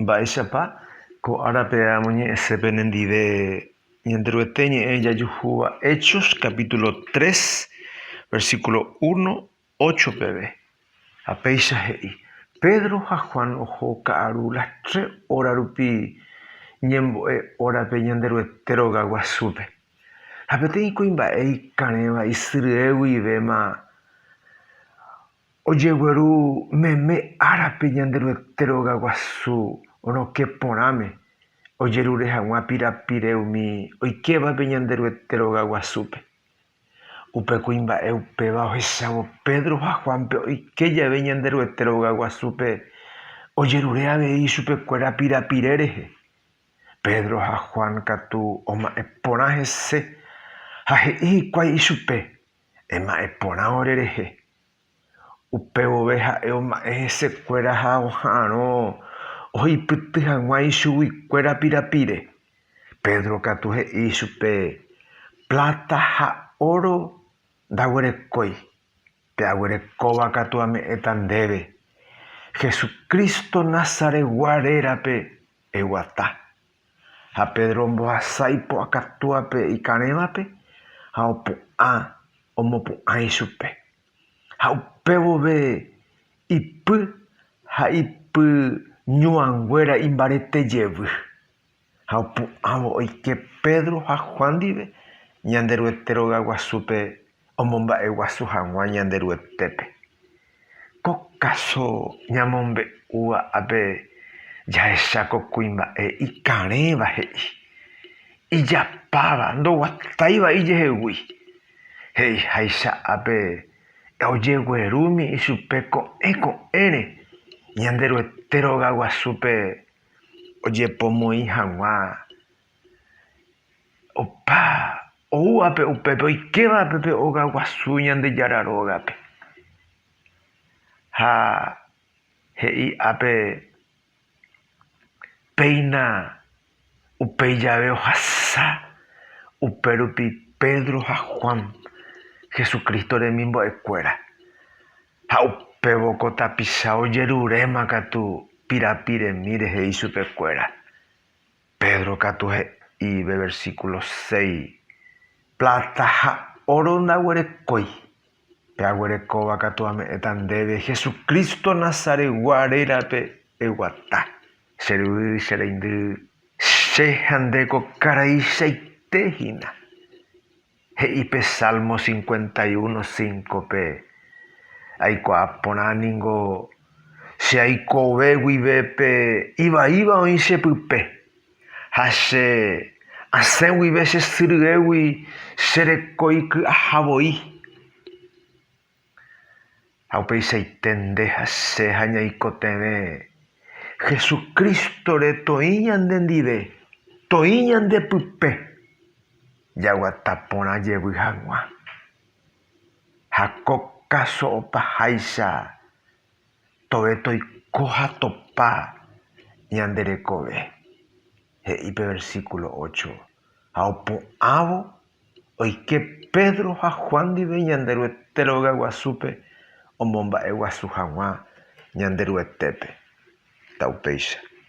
Mba'éichapa ko árape amoñe'ẽse penendive Ñanderuete ñe'ẽ jajuhúva Hechos capítulo 3, versículo 1, 8 peve. Ha péicha he'i, Pedro ha Juan oho ka'aru las tres óra rupi ñembo'e órape Ñanderuete roga guasúpe. Ha peteĩ kuimba'e ikarẽva isyryegui ivéma Ojegueru meme árape Ñanderuete rogaguasu rokẽ porãme, ojerure hag̃ua pirapire umi oikévape Ñanderuete rogaguasúpe. Upe kuimba'e upéva ohechávo Pedro ha Juánpe oike jave Ñanderuete rogaguasúpe ojerure avei chupekuéra pirapire rehe. Pedro ha Juan katu oma'ẽ porã hese ha he'i hikuái ichupe Ema'ẽ porã orerehe. Upe vove ha'e oma'ẽ hesekuéra ha oha'arõ ohoipyty hag̃ua ichuguikuéra pirapire. Pedro katu he'i ichupe, Pláta ha óro ndaguerekói, pe aguerekóva katu ame'ẽta ndéve. Jesucristo Nazaretgua rérape eguata, Ha Pedro ombohasa ipu'akatúape ikarẽvape ha opu'ã omopu'ã ichupe. Ha upe vove ipy ha ipyñuãnguéra imbarete jevy. Ha opu'ãvo oike Pedro ha Juan ndive Ñanderuete rogaguasúpe omomba'eguasu hag̃ua Ñanderuetépe. Ko káso ñamombe'úva ápe jahecha ko kuimba'e ikarẽva he'i, ijapáva, ndoguatái vai jehegui. He'iháicha ápe, ojeguerúmi ichupe ko'ẽ ko'ẽre Ñanderuete rogaguasúpe ojepomoĩ hag̃ua Opa oúvape upépe oikéva pe óga guasu Ñandejára rógape. Ha he'i ápe, péina upéi jave ohasa, upérupi Pedro ha Juan, Jesucristo remimbo'ekuéra. Ha upévo ko tapicha ojeruréma katu pirapiremi rehe ichupekuéra. Pedro katu he'íve, versículo seis, Plata ha óro ndaguerekói, pe aguerekóva katu ame'ẽta ndéve, Jesucristo Nazaretgua rérape eguata. Che ryvy, che reindy, che ha nde ko karaichaite hína. He'i pe Salmo cincuenta y uno cinco-pe, Aikuaa porã ningo che aikove guive pe ivaíva oĩ che pype, ha che asẽ guive che sy ryégui che reko iky'aha voi. Ha upeichaite nde ha che ha ñaikotevẽ Hesu Crístore toĩ ñande ndive, toĩ ñande pype, jaguata porã jevy hag̃ua. Ha ko káso opaháicha tove toiko ha topa ñande rekove. he'i pe versíkulo ócho, Ha opu'ãvo oike Pedro ha Juan ndive Ñanderuete rogaguasúpe omomba'eguasu hag̃ua Ñanderuetépe, ta upéicha.